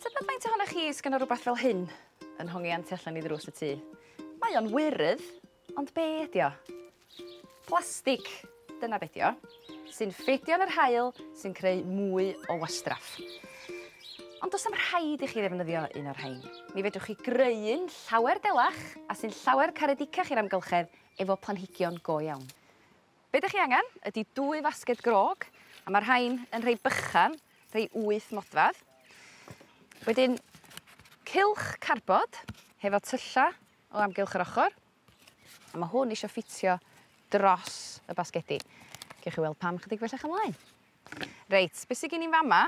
Tybed faint ohonoch chi sgan o rhywbeth fel hyn yn hongi anti allan i ddrws y tŷ? Mae o'n wyrydd, ond be ydi o? Plastig, dyna be di o, sy'n ffedio yn yr hael sy'n creu mwy o wastraff. Ond does am rhaid i chi ddefnyddio un o'r rhain. Mi fedrwch chi greu un llawer delach a sy'n llawer caredicach i'r amgylchedd efo planhigion go iawn. Be' 'dych chi angen ydi dwy fasged grog a ma' rhain yn rhei bychan rhei wyth modfadd wedyn cylch carbod hefo tylla' o amgylch yr ochor a ma' hwn isio ffitio dros y basgedi gewch chi weld pam chydig bellach ymlaen. Reit be' sy gin i 'n fa' 'ma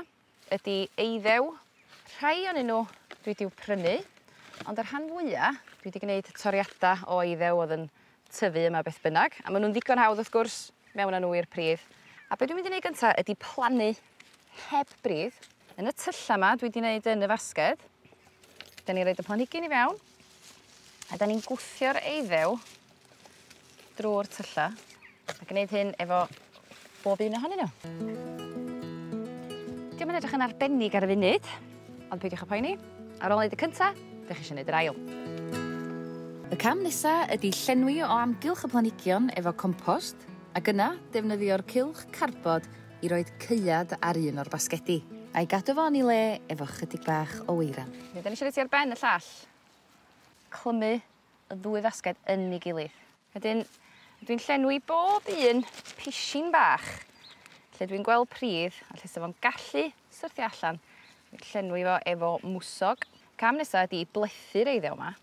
ydi eiddew. Rhai o'nyn n'w dwi 'di i'w prynu ond y rhan fwya dwi 'di gneud toriada o eiddew o'dd yn tyfu yma beth bynnag a ma' nw'n ddigon hawdd wrth gwrs mewn â n'w i'r pridd a be' dwi mynd i neud gynta ydi plannu heb bridd yn y tylla 'ma dwi 'di neud yn y fasged 'dyn ni roid y planhigyn i fewn A 'dan ni'n gwthio'r eiddew drw'r tylla a gneud hyn efo bob un ohonyn n'w. 'Di o'm yn edrych yn arbennig ar y funud ond peidiwch â phoeni ar ôl neud y cynta 'dych chi isio neud yr ail. Y cam nesa ydi llenwi o amgylch y planhigion efo compost ac yna defnyddio'r cylch carbod i roid caead ar un o'r basgedi. A'i gadw fo yn ei le efo chydig bach o weiran. Rydan ni isio roi ti ar ben y llall. Clymu y ddwy fasged yn ei gilydd. Wedyn dwi'n llenwi bob un pishyn bach lle dwi'n gweld pridd a lle 'sa fo'n gallu syrthio allan. Dwi'n llenwi fo efo mwsog. Cam nesa ydi blethu'r eiddew 'ma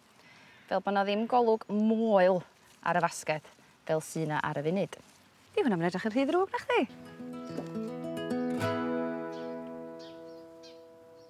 fel bo' 'na ddim golwg moel ar y fasged fel sy 'na ar y funud. Dyw hwnna 'im yn edrych yn rhy ddrwg nachdi?